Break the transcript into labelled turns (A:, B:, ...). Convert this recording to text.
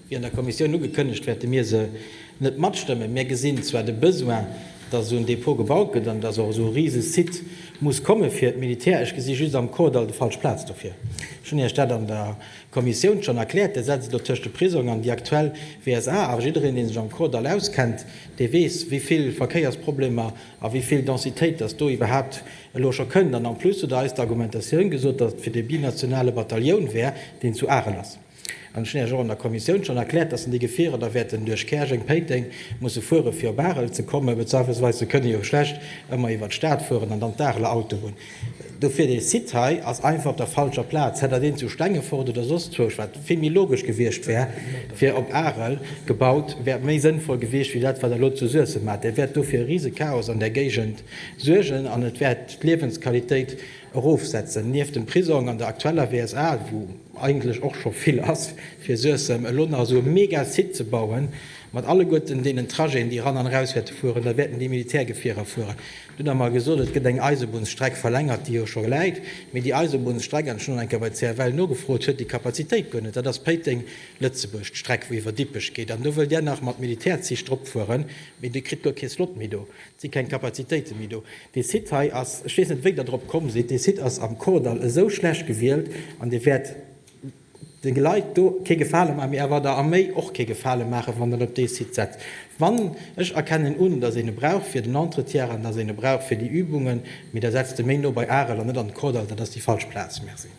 A: Wéi an der Kommissioun ugekënnegt, wäerte mir se net matstëmmen. Mir gesinn zwar de Besoin, dass esou en Depot gebaut gëtt an dass och esou e rise Site muss komme fir d'Militär. Ech gesi just am Kordall de falsch Plaz dofir. Ech hunn Iech dat an der Kommissioun schonn erkläert. Där setzt elo tëscht de Prisong an déi aktuell WSA. A jiddereen, dee sech am Kordall auskennt, dee weess, wéi vill Verkéiersproblemer a wéi vill Densitéit dass do iwwerhaapt elo scho kënnt. An en plus hutt Der eis d'Argumentatioun gesot, dass et fir de binationale Batalioun wär, deen zu Arel ass. An ech hunn Iech och an der Kommissioun schonn erkläert, dass déi Gefierer da wäerten duerch Käerjeng, Péiteng musse fuere fir op Arel ze kommen, bezweifelsweis, se kënne jo schlecht ëmmer iwwer d'Stad fueren an dann d'Areler Auto hunn. Dofir, dee Site hei ass einfach op der falscher Plaz. Hätt Der deen zu Stengefort oder soss wousch, wat vill méi logesch gewiescht wär fir op Arel, gebaut, wär méi sënnvoll gewiescht wéi dat wat Der elo zu Suessem maacht. Dat wäert do fir e Risechaos an där Géigend suergen an et wäert d'Liewensqualitéit Erofsetzen. Nieft dem Prisong an der aktueller WSA, wou eigentlech och scho vill ass fir Suessem, elo nach esou e mega Site ze bauen, mat alleguerten deenen Trajeten, déi eran an eraus wäerte fueren, da wäerten déi Militärgefierer fueren. Dunn hu mer gesot, et gëtt eng Eisebunnsstreck verlängert, déi jo scho läit, mee déi Eisebunnsstreck, an ech hunn eng Kéier bei CFL nogefrot, huet déi Kapazitéit guer net. Dat ass Péiteng, Lëtzebuerg, d'Streck, wou iwwer Dippech geet. An do wëllt Där nach mat Militärzich drop fueren, mee Dir kritt guer kee Slot méi do. Si keng Kapazitéite méi do. Dee Site hei ass, ech weess net wéi Der drop komm sidd, dee Site ass am Kordall esou schlecht gewielt an dee wäert de Leit do kee Gefale maachen, mee awer der Arméi och kee Gefale maachen, wann en op dee Site setzt. Wann, ech erkennen un, datt een e brauch fir den Entretien an datt een e brauch fir déi Übungen, mee da setzt e méi no bei Arel an net an de Kordall, dat ass déi falsch Plaz. Merci.